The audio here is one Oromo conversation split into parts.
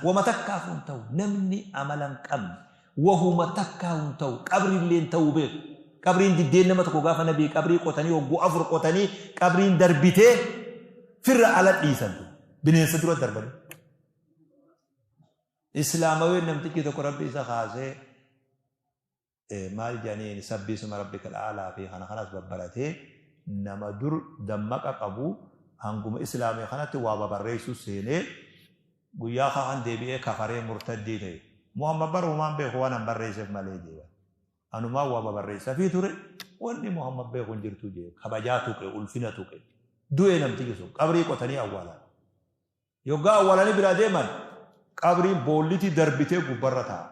Woma takkaafuu hin tahu. Namni amala hin qabne wahuma takkaahuu hin tahu. Qabrillee hin tahuu beekhu. Qabriin diddeen nama tokko gaafa nabii qabrii qotanii hogguu afur qotanii qabriin darbitee firra ala dhiisan tun. Bineensa dura darbanii. Islaamaween namtichi tokko rabbi isa kaasee maal jedhaniin sabbi isma rabbika al'aalaa fi kana kanas babbaratee nama dur dammaqa qabu hanguma islaamee kanatti waa babarreessuu seenee guyyaa kaan deebi'ee kafaree murtaddii ta'e muhammad bara humaan beeku waan an barreesseef malee jeeba anumaa waa babarreessafii ture wanni muhammad beeku hin jirtu jee kabajaa tuqe ulfina tuqe du'ee namtiyyu sun qabrii qotanii awwaalan yoggaa awwaalanii biraa deeman qabriin boollitii darbitee gubbarra ta'a.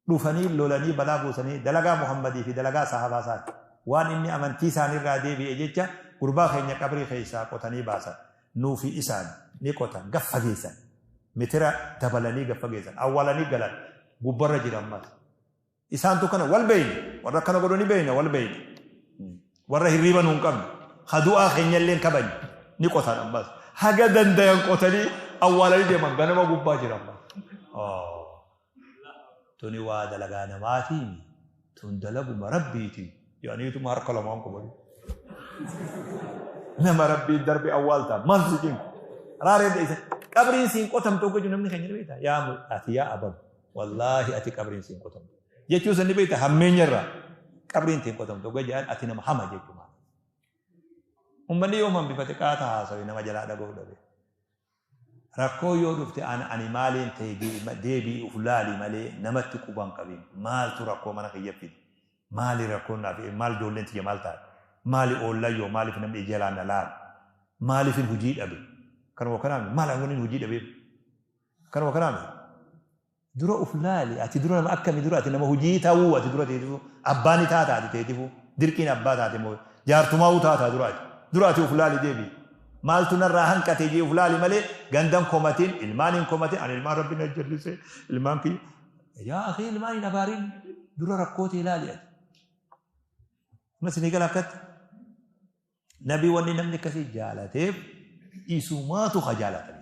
dhufanii lolanii balaa buusanii dalagaa Muhammadii fi dalagaa sahaabaa isaati. Waan inni amantii isaanii irraa deebi'e jecha gurbaa keenya qabrii keessaa qotanii baasan. Nuu fi isaan ni qotan gad fageessan. Mitira dabalanii gad fageessan. Awwaalanii galan. Gubbarra jira ammas. Isaantu kana wal beeyna. Warra akkana godhu ni beeyna wal beeyna. Warra hirriiba nu hin qabne. Ha du'aa keenya illee hin kabajne. Ni qotan ammas. Haga dandayan qotanii awwaalanii deeman ganama gubbaa jira ammas. tuni waa dalagaa namaatii mi tun dalaguma rabbiiti jedhaniituma harka lamaan qubatu nama rabbiin darbe awwaaltaa maal sikin raaree dheessa qabriin siin qotamtu akka jiru namni keenya ni beekta yaa mu- ati yaa abab wallaahi ati qabriin siin qotamtu jechuu san ni beekta hammeenya irraa qabriin siin qotamtu akka jedhan ati nama hama jechuu maal ummanni yoo hambifate qaata haasawe nama jalaa dhaga'uu dhabe Rakkoon yoo dhufte an ani maaliin ta'e deebi'i uf laali malee namatti quba hin qabin. Maaltu rakkoo mana kiyya fide? Maali rakkoon naaf ee maal ijoolleen tiyya maal taate? Maali oollan yoo maaliif namni ija jalaan na laala? Maaliifin hujii dhabe? Kanuma kanaa miti? Mala wanin hujii dhabeef? Kanuma kanaa miti? Dura uf laali ati dura nama akkami dura ati nama hujii tauu ati dura teetifu abbaa ni taata ati teetifu dirqiin abbaa taate moo jaartumaau taata dura ati dura ati uf laali deebi maaltu narraa hanqate jee uf laali malee gandan komatin ilmaan hin komatin ani ilmaan rabbi na jallise ilmaan kiyya yaa akhi ilmaan hin abaarin dura rakkoo tee laali ati mas ni gala akkatti nabi wanni namni akkasii jaalateef isumaatu ha jaalatani